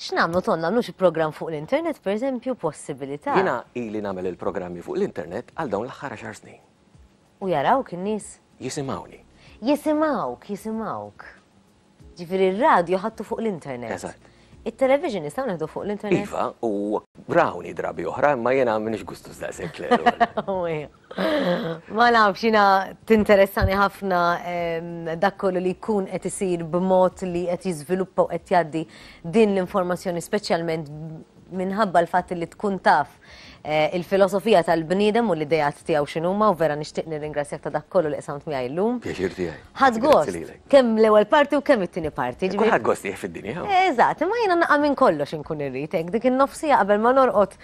X'nagħmlu Ton, nagħmlu xi programm fuq l-internet pereżempju possibilità. Jiena ili nagħmel il-programmi fuq l-internet għal dawn l-aħħar għaxar snin. U jarawk in-nies? Jisimgħuni. Jisimgħuk, jisimgħuk. Ġifieri r-radju ħadtu fuq l-internet. Eżatt. It-television nistgħu nieħdu fuq l-internet? Iva, u rawni drabi oħra, imma jiena m'iniex gustus daqshekk kleru. Ma nafx jiena tinteressani ħafna dak kollu li jkun qed isir b'mod li qed jiżviluppa u qed jgħaddi din l-informazzjoni speċjalment minħabba l-fatt li tkun taf eh, il-filosofija tal-bniedem u l-idejat tiegħu x'inhuma u vera nixtieq nirringrazzjak ta' dak kollu li qsamt miegħi llum. Pjaċir tiegħi. Ħadd gost, kemm l-ewwel parti u kemm it-tieni parti. Kulħadd gost jieħ fid-dinja. Eżatt, imma jiena naqa' minn kollox inkun irrid hekk dik in-nofsija qabel ma norqod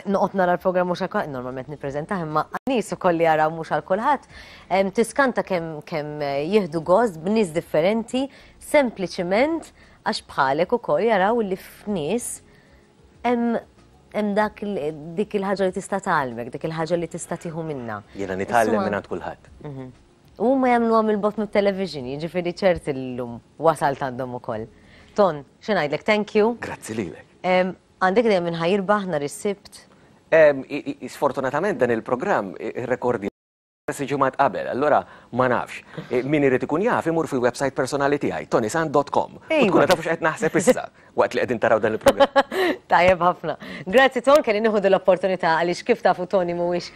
Noqgħod nara l-programm mhux għal normalment nippreżentah imma nies ukoll li jaraw mhux għal kulħadd. Tiskanta kemm kemm jieħdu gost b'nies differenti sempliċiment għax bħalek ukoll jaraw li f'nies hemm hemm dak dik il-ħaġa li tista' tgħallmek, dik il-ħaġa li tista' tieħu minnha. Jiena nitgħallem minn għand kulħadd. Mhm. U ma jagħmlu għam il-bot mit-television, jiġifieri ċerti l-lum wasal għandhom ukoll. Ton, xi ngħidlek, thank you. Grazzi lilek. Għandek idea min ħa jirbaħ nhar is-Sibt? Sfortunatament dan il-programm irrekordjah diversi ġimgħat qabel, allura ma nafx. Min irid ikun jaf imur fil-website personali tiegħi, tonysant.com. U tkunu tafu x'qed naħseb issa waqt li qegħdin taraw dan il-programm. Tajjeb ħafna. Grazzi Ton, kelli nieħu din l-opportunità għaliex kif tafu Toni mhuwiex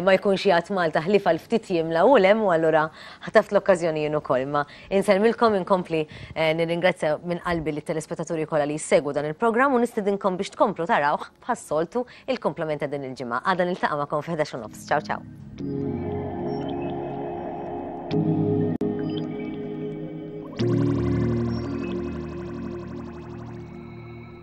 ma jkunx jgħadd Malta ħlief għal ftit jiem l-hawn u l hemm u allura ħtaft l-okkażjoni jien ukoll. Imma Insellmilkom inkompli nirringrazzja minn qalbi lit-telespettaturi kollha li jissegwu dan il-programm u nistedinkom biex tkomplu tarawh bħas-soltu il-kumplament ta' din il-ġimgħa. Għada niltaqa' magħkom fil-ħdax u nofs. Ciao ciao.